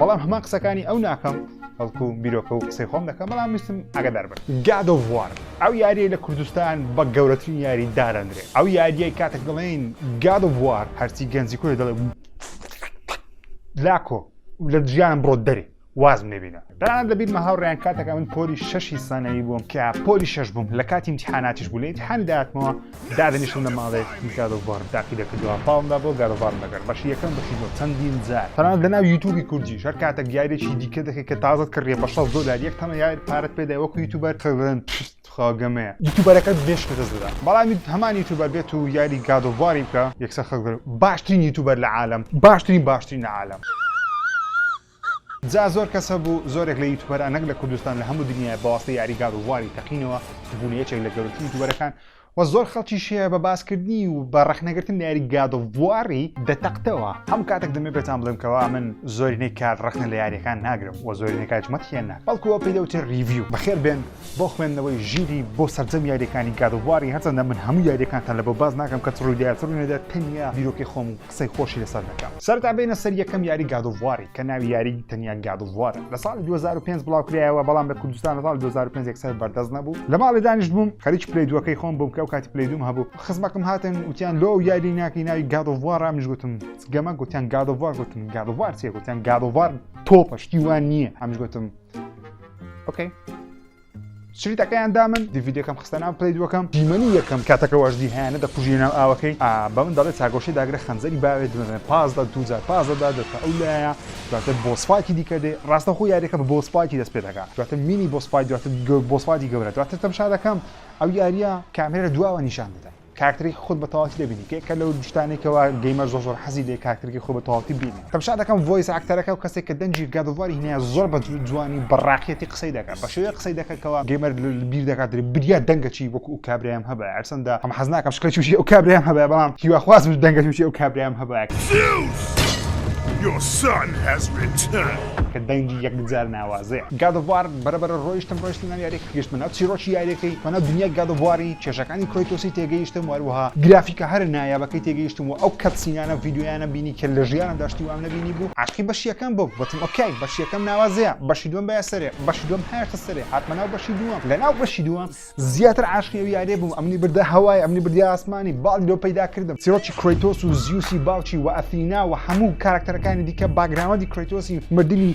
بەڵام هەمان قسەکانی ئەو ناکەم بەڵکو بیرۆکە و قسەی خۆم دەکەم بەڵام ویستم ئاگدار بن گاد ئۆف وار ئەو یاریەی لە کوردستان بە گەورەترین یاری دادەندرێت ئەو یاریەی کاتێک دەڵێن گاد ئۆف وار هەرچی گەنجی کوێ دەڵێ لاکۆ لە ژیانم بڕۆ دەری وازم لێبینە تەنانەت لە بیرمە هاوڕیان کاتەکە من پۆلی شەشی سانەوی بووم کە پۆلی شەش بووم لە کاتی امتحاناتیش بوو لە امتحان داتمەوە دادەنیشم لە ماڵێک هی گاد ئۆف وارم تاقیدە کردوە پاڵم دا بۆ گاد ئۆف وارم لەگەر بەشی یەکەم بەشی دووەم چەندین جار تەنانەت لە ناو یوتوبی کوردیش هەر کاتەک یاریەکی دیکە دەکەی کە تازەت کڕیە بە شەست دۆلار یەک تەنە یار پارەت پێ دای وەکو یوتوبەر خەک دەڵێن پشت تخوا گەمەیە یوتوبەرەکەت بێ شکستە دەدا بەڵام هەمان یوتوبەر بێت و یاری گاد ئۆف واری بکا یەکسەر خەک دەڵێن باشترین یوتوبەر لە عالەم باشترین باشترین لە عالەم. جا زۆر کەس هەبوو زۆرێک لە یوتوبەران نەک لە کوردستان لە هەموو دنیا بە واستەی یاری گاد ئۆف واری تەقینەوە و بوونە یەکێک لە گەورەترین یوتوبەرەکان و زۆر خەڵکیش هەیە بە باسکردنی و بە ڕەخنەگرتن لە یاری گاد ئۆف واری دەتەقتەوە هەموو کاتێک دەمێ پێتان بڵێم کەوا من زۆرینەی کات ڕەخنە لە یاریەکان ناگرم و زۆرینەی کات مەتیان ناکەم بەڵکو ئەوە پێی دەوترێ ڕیڤیو بەخێر بێن بۆ خوێندنەوەی ژیری بۆ سەرجەم یاریەکانی گاد ئۆف واری هەرچەندە من هەموو یاریەکانتان لەبەر باس ناکەم کە چ ڕووی دەیات چ ڕووی نەدەیات تەنیا بیرۆکەی خۆم و قسەی خۆشی لەسەر دەکا. سەرەتا بێینە سەر یەکەم یاری گاد ئۆف واری کە ناوی یاری تەنیا گاد ئۆف وارە لە ساڵی دوو هەزار و پێنج بڵاو کرایەوە بەڵام لە کوردستان لە ساڵی دوو هەزار و پێنج یەکسەر بەردەست نەبوو لە ماڵێ دانیشت بووم خەریکی پلەی دووەکەی خۆم بووم کە ئەو کاتی پلەی دووم هەبوو خزمەکم هاتن وتیان لۆ ئەو یاری ناکەی ناوی گاد ئۆف وارە منیش گوتم چ گەمە گوتیان گاد ئۆف وار گوتم گاد ئۆف وار چیە گوتیان گاد ئۆف وار تۆپە شتی وان نییە ئەمنیش گوتم ئۆکەی شریتەکەیان دامن دیڤیدەکەم خستە ناو پلەی دووەکەم دیمەنی یەکەم کاتەکە واژدی هەیەە دەکوژی ناو ئاوەکەی بە من دەڵێت چاگۆشی داگرە خەنجەری باوێت دمەێن پاس دە دوجار پاس دەدا دەتە ئەو لایە دواتە بۆسپاکی دیکە دێ ڕاستە خۆ یاریەکە بە بۆسپاکی دەست پێ دەکات دواتە مینی بۆسپای دواتە بۆسپاتی گەورە دواتە تەمشا دەکەم ئەو یاریە کامێرە دواوە نیشان دەدەن کارکتەرێکی خۆت بە تەواوەتی دەبینی کە یەکە لەو شتانەی کەوا گەیمەر زۆر زۆر حەزی لێ کارکتەرێکی خۆی بە تەواوەتی ببینی تەمشا دەکەم ڤۆیس ئاکتەرەکە و کەسێک کە دەنگی گاد ئۆف واری هێنایە زۆر بە جوانی و بە ڕاقیەتی قسەی دەکات بە شێوەیەک قسەی دەکات کەوا گەیمەر بیر دەکات دەرێ بریا دەنگە چی وەکو ئەو کابرایەم هەبایە هەرچەندە ئەم حەز ناکەم شکڵی چوشی ئەو کابرایەم هەبایە بەڵام هیواخوازم دەنگە چوشی ئەو کابرایەم هەبایە کە دەنگی یەکجار ناوازەیە گاد ئۆف وار بەرە بەرە ڕۆیشتم ڕۆیشتم ئەم یاریە کە گەشتمە ناو چیڕۆکی یاریەکەی بە ناو دنیای گاد ئۆف واری کێشەکانی کرەیتۆسی تێگەیشتم وەروەها گرافیکە هەرە نایابەکەی تێگەیشتم وە ئەو کەتسینانە ڤیدیۆیانەم بینی کە لە ژیانمدا شتی وام نەبینی بوو عاشقی بەشی یەکەم بووم وتم ئۆکەی بەشی یەکەم ناوازەیە بەشی دووەم بایە سەرێ بەشی دووەم هایەشتە سەرێ هاتمە ناو بەشی دووەم لە ناو بەشی دووەم زیاتر عاشقی ئەو یاریە بووم ئەمنی بردە هەوای ئەمنی بردە ئاسمانی باڵی لۆ پەیدا کردم چیڕۆکی کرەیتۆس و زیوسی باوکی وە ئەثینا وە هەموو کاراکتەرەکانی دیکە باکگراوندی کرەیتۆسی مردنی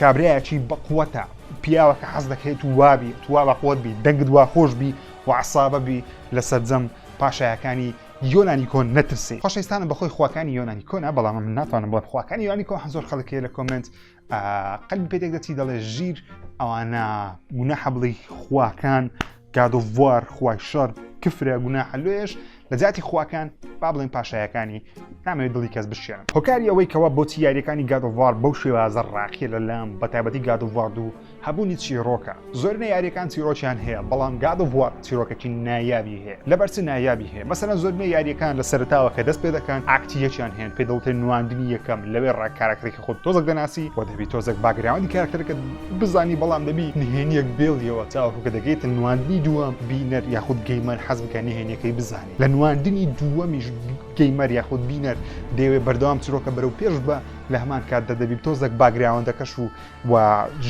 کابرایەکی بەقوەتە پیاوە کە حەز دەکەیت و وابی توا بەقوت بی دەنگت وا خۆش بی و عسابە بی لە سەرجەم پاشایەکانی یۆنانی کۆن نەترسی خۆشەویستانم بەخۆی خواکانی یۆنانی کۆنە بەڵام من ناتوانم بڵێم خواکانی یۆنانی کۆن هەزۆر خەڵکەیە لە کۆمنت قەلبی پێدێک دەچی دەڵێ ژیر ئەوانە گوناحە بڵی خواکان گاد ئۆف وار خوای شەر کفرە گوناحە لۆیەش لە جیاتی خواکان با بڵێن پاشایەکانی نامەوێت دڵی کەس بشکێنم هۆکاری ئەوەی کەوا بۆچی یاریەکانی گاد ئۆف وار بەو شێوازە ڕاقیە لە لام بە تایبەتی گاد ئۆف وار دوو هەبوونی چیرۆکە زۆرینە یاریەکان چیرۆکیان هەیە بەڵام گاد ئۆف وار چیرۆکەکی نایابی هەیە لەبەر چ نایابی هەیە مەسەلەن زۆرینە یاریەکان لە سەرتاوە کە دەست پێ دەکەن ئاکتی یەکیان هەیە پێ دڵتێ نواندنی یەکەم لەوێ ڕای کاراکتەرێکی خۆت تۆزەک دەناسی و دەبی تۆزەک باگراوەندی کاراکتەرەکەت بزانی بەڵام دەبی نهێنیەک بێڵیەوە تاوەکو کە دەگەیتە نواندنی دووەم بینەر یاخود گەیمەر حەز بکە نهێنیەکەی بزانێ لە نواندنی دووەمیش گەیمەر یاخود بینەر دەیەوێ بەردەوام چرۆکە بەرەو پێش بە لە هەمان کاتدا دەبی تۆزەک باگراوەندەکەش و و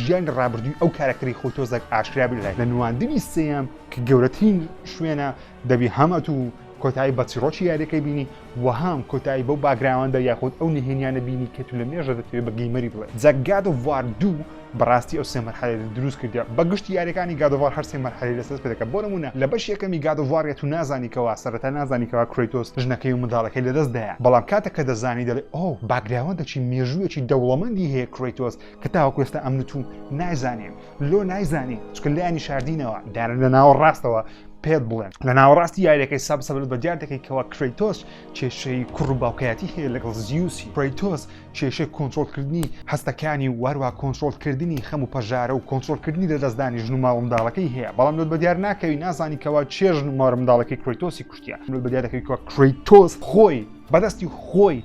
ژیانی ڕابردووی ئەو کارەکتەری خۆی تۆزەک ئاشکرا بێ لە نواندنی سێیەم کە گەورەترین شوێنە دەبی هەم ئەتو کۆتایی بە چیڕۆکی یاریەکەی بینی وەهام کۆتایی بەو باگراوەندە یاخود ئەو نهێنیانە بینی کە تو لە مێژە دەتەوێت بە گەیمەری بڵێ جەگاد و وار دوو بەڕاستی ئەو سێمەر حەرێت دروست کردیا بە گشتی یاریەکانی گادوار هەر سێمەر حەری لەسەر پێدەکە بۆ نمونە لە بەش یەکەمی گادوارە تو نازانی کەوا سەرەتا نازانی کەوا کرەیتۆس ژنەکەی و منداڵەکەی لەدەست دایە بەڵام کاتە کە دەزانی دەڵێ ئەو باگراوەندەکی مێژوویەکی دەوڵەمەندی هەیە کرەیتۆس کە تاوەکو ئێستا ئەمن تو نایزانین لۆ نایزانی چکە لایانی شاردینەوە دایان لە ناوەڕاستەوە پێت بڵێن لە ناوەڕاستی یاریەکەی ساب سەبل بە دیار دەکەی کەەوە کرەیتۆس کێشەی کوڕ و باوکایەتی هەیە لەگەڵ زیوسی پرەیتۆس کێشەی کۆنتترۆلکردنی هەستەکانی واروا کۆنتترۆلکردنی خەم و پەژارە و کۆنتترۆلکردنی لە دەستدانی ژن و ماڵنداڵەکەی هەیە بەڵام لە بە دیار ناکەوی نازانی کەەوە چێژن و مارە منداڵەکەی کرەیتۆسی کوشتە لە بە دیارەکەی کە کرەیتۆس خۆی بەدەستی خۆی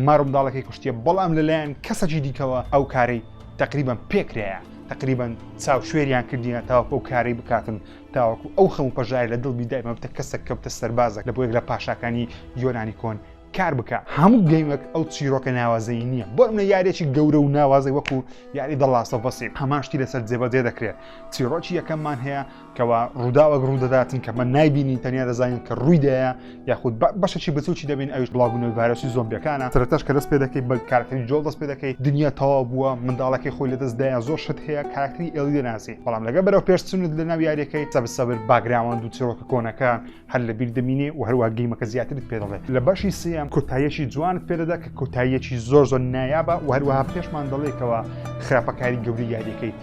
مارمداڵەکەی کوشتە بەڵام لەلایەن کەسەکی دیکەوە ئەو کارەی تقریبان پێکرایە تەقریبەن چاو شوێریان کردیە تاوەکو ئەو کارەی بکاتن تاوەکو ئەو خەم و پەژارە لە دڵ بیدای مەبتە کەسە کەوتە سەربازە لە بۆ یەک لە پاشاکانی یۆنانی کۆن کار بکە هەموو گەیمەک ئەو چیرۆکە ناوازەی نییە بۆ منە یارێکی گەورە و ناوازەی وەکو یاری دەڵاسە بەسی هەمان شتی لەسەر جێبەجێ دەکرێت چیرۆکی یەکەممان هەیە کەوا ڕووداوەک ڕوودەداتن کە من نایبینین تەنیا دەزانین کە ڕوویدایە یاخود بەشەکی بچوکی دەبین ئەوش بڵاوبوونەوەی ڤایرۆسی زۆمبیەکانە سەرتاش کە دەست پێ دەکەی بە کارکردی جۆڵ دەست پێ دەکەی دنیا تەوا بووە منداڵەکەی خۆی لە دەستدایە زۆر شت هەیە کارکتری ئێڵی دەناسی بەڵام لەگە بەرەو پێشچونت لە ناو یاریەکەی سەبسەبر باگراوەند و چیرۆکە کۆنەکان هەر لە بیر دەمینێ و هەروە گەیمەکە زیاترت پێ دەڵێ لە بەشی سێم کۆتاییەکی جوانت پێ دەدا کە کۆتاییەکی زۆر زۆر نایابە و هەروەها پێشمان دەڵێکەوە خراپەکاری گەوری یاریەکەی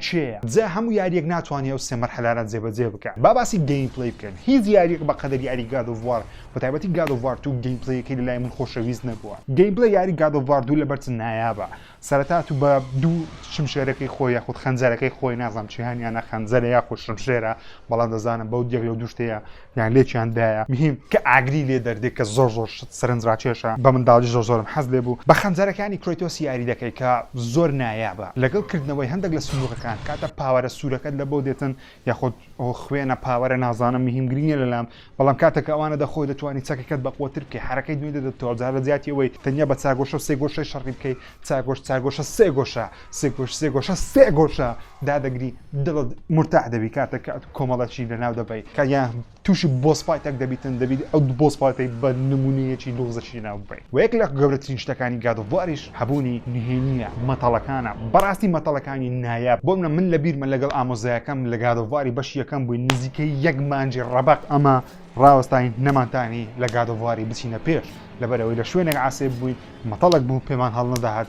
چێە جا هەموو یاریەک ناتوانێت و سێمەر حەلاران جێبەجێ بکە با باسی گەیم پلی بکەن هیچ یاریەک بە قەدەر یاری گادۆڤوار بە تایبەتی گادۆڤارت و گەیم پلیەکەی لە لای من خۆشەویست نەبووە گەیم پلی یاری گادۆڤاردوو لە بەرچ نایابە سەرەتا تو بە دو شمشێرەکەی خۆی یاخود خەنجەرەکەی خۆی نازانم چیهانیانە خەنجەرە یاخود شمشێرە بەڵام دەزانم بەو یەک لەو دوشتەیە یان لێکیان دایە مهم کە ئاگری لێ دەردێ کە زۆر زۆر شت سەرنج راکێشە بە منداڵی زۆر زۆرم حەز لێ بو بە خەنجەرەکانی کرەیتۆس یاری دەکەی کە زۆر نایابە لەگەڵ کردنەوەی هەندەک لە سندوقەکان کاتە پاوەرە سورەکەت لە بۆ دێتن یاخود ئەو خوێنە پاوەرە نازانم مهم گرنگ نیە لەلام بەڵام کاتەکە ئەوانە دەخۆی دەتوانانی چەکەکەت بە قوتر بکەی حرەکەی دوێ دەدەتەوە جارە زیاتی ئەوەی تەنیا بە چاگۆشە سێ گۆشەی شەڕی بکەی چاگۆش چاگۆشە سێ گۆشە سێ گۆش سێ گۆشە سێ گۆشە دادەگری دڵت مرتاح دەبی کاتەکە کۆمەڵەشی لەناو دەبەی کە یان تووشی بۆسپایتەک دەبیتن دەبیت ئەو بۆسپایتەی بە نموونەیەکی لوغزەکی لەناو ببەین وە یەک لە گەورەترین شتەکانی گاد ئۆف واریش هەبوونی نهێنیە مەتەڵەکانە بەڕاستی مەتەڵەکانی نایاب بۆ منە من لەبیرمە لەگەڵ ئامۆزایەکەم لە گاد ئۆف واری بەشی یەکەم بووین نزیکەی یەک مانجی ڕەبەق ئەمە ڕاوەستاین نەمانتانی لە گاد ئۆف واری بچینە پێش لەبەرئەوەی لە شوێنێک عاسێب بووین مەتەڵەک بوو پێمان هەڵنەدەهات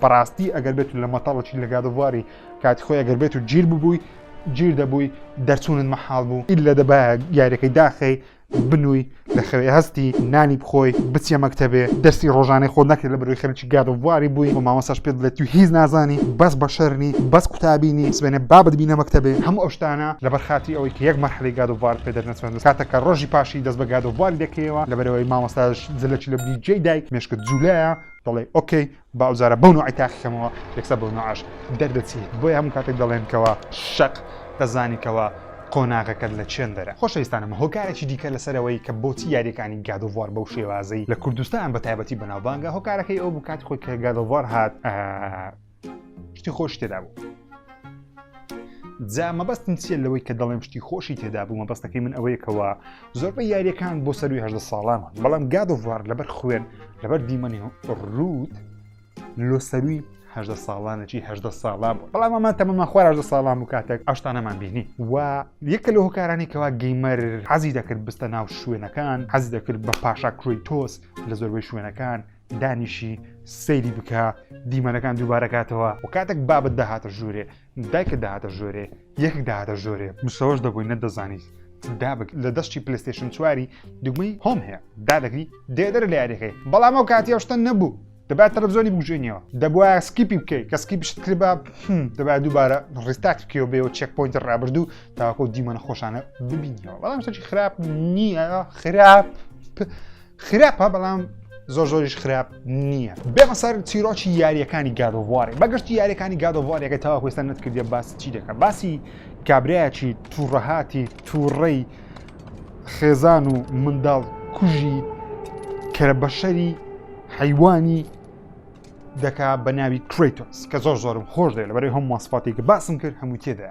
بەڕاستی ئەگەر بێت و لە مەتەڵ بچیت لە گاد ئۆف واری کاتی خۆی ئەگەر بێت و گیر ببووی گیر دەبووی دەرچوونت مەحاڵ بوو ئیلا دەبایە یاریەکەی داخەی بنووی لە خەوێ هەستی نانی بخۆی بچیە مەکتەبێ دەرسی ڕۆژانەی خۆت نەکەی لە بەرووی خەریکی گاد ئۆف واری بووی و مامۆستاش پێت بڵێ تو هیچ نازانی بەس بەشەر نی بەس قوتابی نی سبەینێ با بتبینە مەکتەبێ هەموو ئەو شتانە لەبەر خاتری ئەوەی کە یەک مەرحەلەی گاد ئۆف وارت پێ دەرنەچووە کاتێک کە ڕۆژی پاشی دەست بە گاد ئۆف واری دەکەیەوە لەبەرئەوەی مامۆستاش زلەکی لە بریجەی دای مێشکت جوولایە دەڵێ ئۆکەی با ئەو جارە بەو نوعی تاقی کەمەوە یەکسە بەو نوعاش دەردەچی بۆیە هەموو کاتێک دەڵێن کەوا شەق دەزانی کەوا قۆناغەکەت لە چێندەرە خۆشەویستانم هۆکارێکی دیکە لەسەرەوەی کە بۆچی یاریەکانی گادۆڤوار بەو شێوازەی لە کوردستان بە تایبەتی بەناوبانگە هۆکارەکەی ئەو بکات خۆی کە گادۆڤوار هات شتی خۆش تێدا بوو جا مەبەستم چیە لەوەی کە دەڵێم شتی خۆشی تێدا بوو مەبەستەکەی من ئەوەیەکەوە زۆربەی یاریەکان بۆ سەروی هەدە ساڵانە بەڵام گادۆڤار لەبەر خوێن لەبەر دیمەنی ڕووت لۆ سەروی هەدە ساڵانەکی هەدە ساڵان بوو بەڵام ئەمان تەمەمان خوارە ساڵان و کاتێک ئەشتانەمان بینی و یەکە لە هۆکارانی کەوا گەیمەر حەزی دەکرد بستە ناو شوێنەکان حەز دەکرد بە پاشا کروی تۆس لە زۆربەی شوێنەکان دانیشی سەیری بکە دیمەنەکان دووبارەکاتەوە و کاتێک بابت داهاتە ژوورێ دایکە داهاتە ژۆرێ یەک داهاتە ژۆرێ مسەوەش دەبووی نەدەزانیت دابک لە دەشتی پلستێشن چواری دوگمەی هۆم هەیە دادەگری دێدەر لە یاریەکەی بەڵام ئەو کاتی ئەوشتە نەبوو دەبات تەلەڤزیۆنی بگوژێنیەوە دەبواە سکیپی بکەیت کە سکی بشت کرد بە دەبات دووبارە ڕستات بکەوە بێەوە چێک پوینت ڕابردوو تاکۆ دیمەنە خۆشانە ببینیەوە بەڵام شتێکی خراپ نییە خراپ. خراپە بەڵام زۆر زۆریش خراپ نییە بێمە سەر چیرۆکی یاریەکانی گادۆوارێ بەگشتی یاریەکانی گادۆوارێکە تاوا کوێستان نەتکردێ باس چی دەکە باسی کابراایەکی تووڕەهاتی تووڕەی خێزان و منداڵ کوژی کەرە بەشەری حیوانی دەکا بە ناوی کریتۆس کە زۆر زۆرم خۆش دێ لە بەرەی هەم ماسپاتێک باسم کرد هەموو تێدا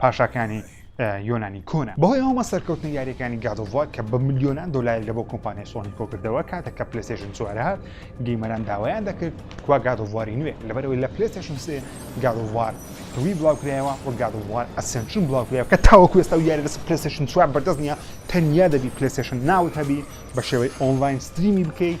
پاشاکانی یۆنانی کۆنە بەهۆی هەمە سەرکەوتنە یاریەکانی گادۆڤوار کە بە ملیۆنان دۆلاری لە بۆ کۆمپانیای سۆنی کۆکردەوە کاتە کە پلسێژن چوارهات گەیمەران داوایان دەکرد کوا گادۆڤواری نوێ لەبەرەوەی لە پلسێشن سێ گادۆڤوار توی بڵاوکرایەوە و گادۆڤوار ئەسنشن بڵاوکرایەوە کە تاوەکو ئێستا و یاری لەس پلسێشن چوار بەردەست نیە تەنیا دەبی پلسێشن ناوت هەبی بە شێوەی ئۆنلاین ستریمی بکەیت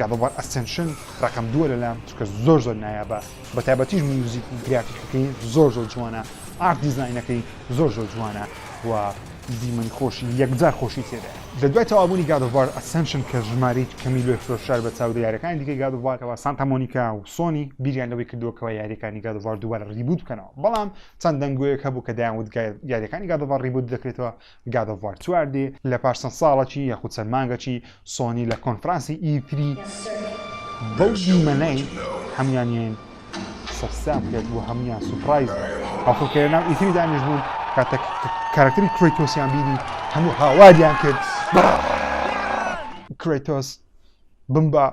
God of War Ascension ڕەقەم دووە لەلام چونکە زۆر زۆر نایابە بە تایبەتیش میوزیک و گرافیکەکەی زۆر زۆر جوانە ئارت دیزاینەکەی زۆر زۆر جوانە و دیمەنی خۆشی یەکجار خۆشی تێدایە لە دوای تەوابوونی God of War Ascension کە ژماری کەمی لۆی فرۆشرار بە چاودێ یاریەکانی دیکەی God of War کەوا سانتا مۆنیکا و سۆنی بیریان لەوەی کردووە کەوا یاریەکانی God of War دووبارە ڕیبووت بکەنەوە بەڵام چەند دەنگۆیەک هەبوو کە دەیانوت یاریەکانی God of War ڕیبووت دەکرێتەوە گاد ئۆف وار چوار دێ لە پاش چەند ساڵەکی یاخود چەند مانگەکی سۆنی لە کۆنفرانسی ئی تری بەو دیمەنەی هەموویانیان سەرسام کرد و هەموویان سوپرایز بوون هەڵکو کە لەناو ئی تری دانیش بوون کاتە کارکتری کرۆیتۆسیان بینی هەموو هاواریان کرد کرۆیتۆس بمبە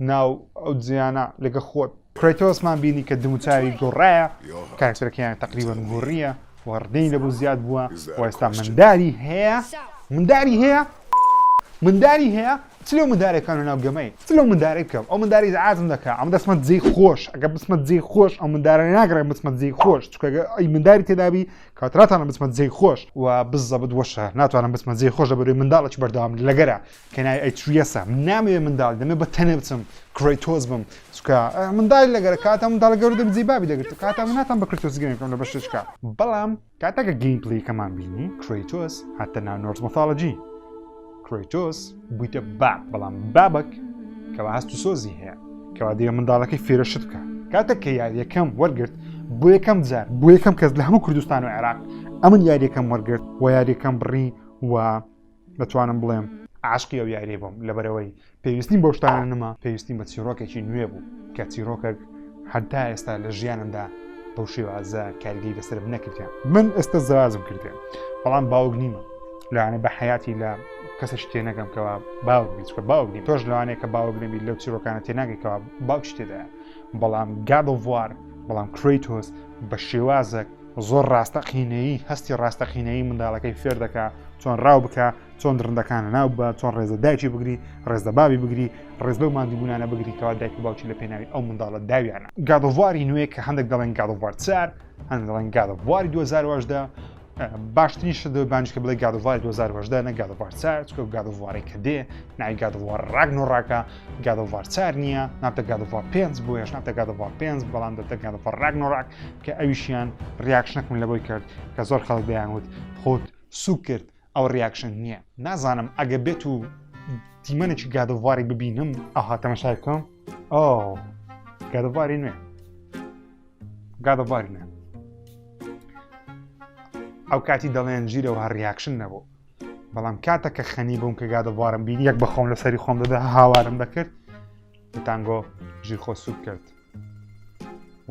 ناو ئەو جیانە لەگە خۆت کرەیتۆسمان بینی کە دموچاوی گۆڕایە، کارەکتەرەکەیان تەقریبەن گۆڕییە و ڕدەی لەبوو زیاد بووە و ئێستا منداری هەیە منداری هەیە منداری هەیە چ لەو مندارە کانە ناو گەمەی چ لەو مندارەی بکەم ئەو منداری زعازم دەکە ئەم دەسمە جێی خۆش ئەگە بسمە جێی خۆش ئەو مندارە ناگرێ بسمە جێی خۆش چکەگە ئەی منداری تێدابی کاتراتانە بسمە جێی خۆش و بزەبت وەشە ناتوانم بسمە جێی خۆش دەبێت منداڵێکی بەردەوام لەگەرە کە ناوی ئەیتریەسە من نامەوێ منداڵی دەمەوێ بە تەنێ بچم کرەیتۆس بم چونکە منداڵی لەگەرە کاتە منداڵە گەورە دەبی جێی بابی دەگرت کاتە من ناتوان بە کرەیتۆس گەیم بکەم لە بەشێچکە بەڵام کاتە کە گەیم پلەیەکەمان بینی کرەیتۆس هاتە ناو نۆرس مۆثۆلۆجی کرەیتۆس بوویتە باب بەڵام بابک کەوا هەست و سۆزی هەیە کەوا دەیە منداڵەکەی فێرە شت بکە کاتە کە یاریەکەم وەرگرت بۆ یەکەم جار بۆ یەکەم کەس لە هەموو کوردستان و عێراق ئەمن یاریەکەم وەرگرت و یاریەکەم بڕی و دەتوانم بڵێم عاشقی ئەو یاریە بووم لەبەرەوەی پێویستیم بەو شتانە نەما پێویستیم بە چیرۆکێکی نوێ بوو کە چیرۆکەک هەتا ئێستا لە ژیانمدا بەو شێوازە کارگەی لەسرم نەکردیان من ئێستا زەوازم کردێن بەڵام باوک نیمە لەوانە بە حیاتی لە کەسش تێنەگەم کەوا باوک بیچکە باوک نیم تۆش لەوانەیە کە باوک نەبی لەو چیرۆکانە تێناگەیتەوە باوک شتێدا بەڵام گادڵوار بەڵام کریتۆس بە شێوازە زۆر ڕاستەقینەیی هەستی ڕاستەقینەیی منداڵەکەی فێر دەکا چۆن ڕاو بکە چۆن درندەکان لەناو بە چۆن ڕێزە دایکی بگری ڕێزدە بابی بگری ڕێز لەو مادیبوونانە بگری کەوا دایک و باوکی لە پێناوی ئەو منداڵە داویانە گادۆڤاری نوێ کە هەندێک دەڵێن گادۆڤار چار هەند دەڵێن گادۆڤاری 2010 باشترین شت بانش کە بڵێ گادووار 2010 نە گادووار ساچکە و گادووارێک کە دێ نای گادووار ڕاگن و ڕاکە گاد ئۆف وار چار نییە نابتە گاد ئۆف وار پێنج بۆیەش نابتە گاد ئۆف وار پێنج بەڵام دەبتە گاد ئۆف وار ڕاگنۆراک کە ئەویشیان ڕیاکشنەکم لەوەی کرد کە زۆر خەڵک دەیانوت خۆت سوک کرد ئەو ڕیاکشن نییە نازانم ئەگە بێت و دیمەنێکی گاد ئۆف وارێک ببینم ئاها تەمەشای بکەم ئۆ گاد ئۆف واری نوێ گاد ئۆف واری نوێ ئەو کاتی دەڵێن ژیرەوە هەر ڕیاکشن نەبوو بەڵام کاتە کە خەنی بووم کە گادەبوارم بینی یەک بەخۆم لە سەری خۆم دەدا هاوارم دەکرد تانگۆ ژیر خۆ سوک کرد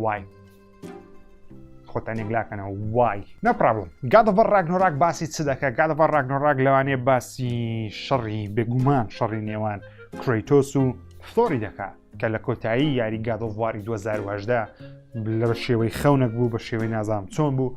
وای خۆتان یەکلاکەنەوە وای نەپرابڵم گادەبەر ڕاگنۆراک باسی چ دەکە گادەبەر ڕاگنۆراک لەوانێ باسی شەڕی بێگومان شەڕی نێوان کرۆیتۆس و فلۆری دەکات کە لە کۆتایی یاری گادۆڤواری 2010 لە شێوەی خەونەک بوو بە شێوەی نازام چۆن بوو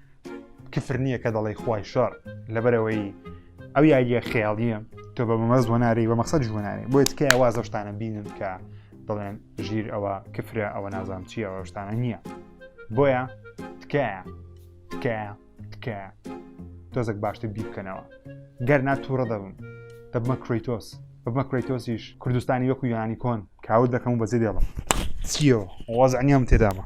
کفر نییە کە دەڵی خی شەڕ لەبەرەوەی ئەو یاریە خێڵیە تۆ بە بەمەز وەناری بە مەقصد جوانانێ بۆ تکای وازەشتانە بینن کە دەڵێن ژیر ئەوە کفرە ئەوە نازام چی ئەوەشتانە نییە بۆیە تکایە تکایە تکایە تۆزێک باشتر بیر بکەنەوە گەر ناتووڕە دەبم دەبمە کریتۆس بەمە کریتۆسیش کوردستانی وەکو یانی کۆن کاوت دەکەم و بەزی دێڵم چیەوە وازعنیام تێدامە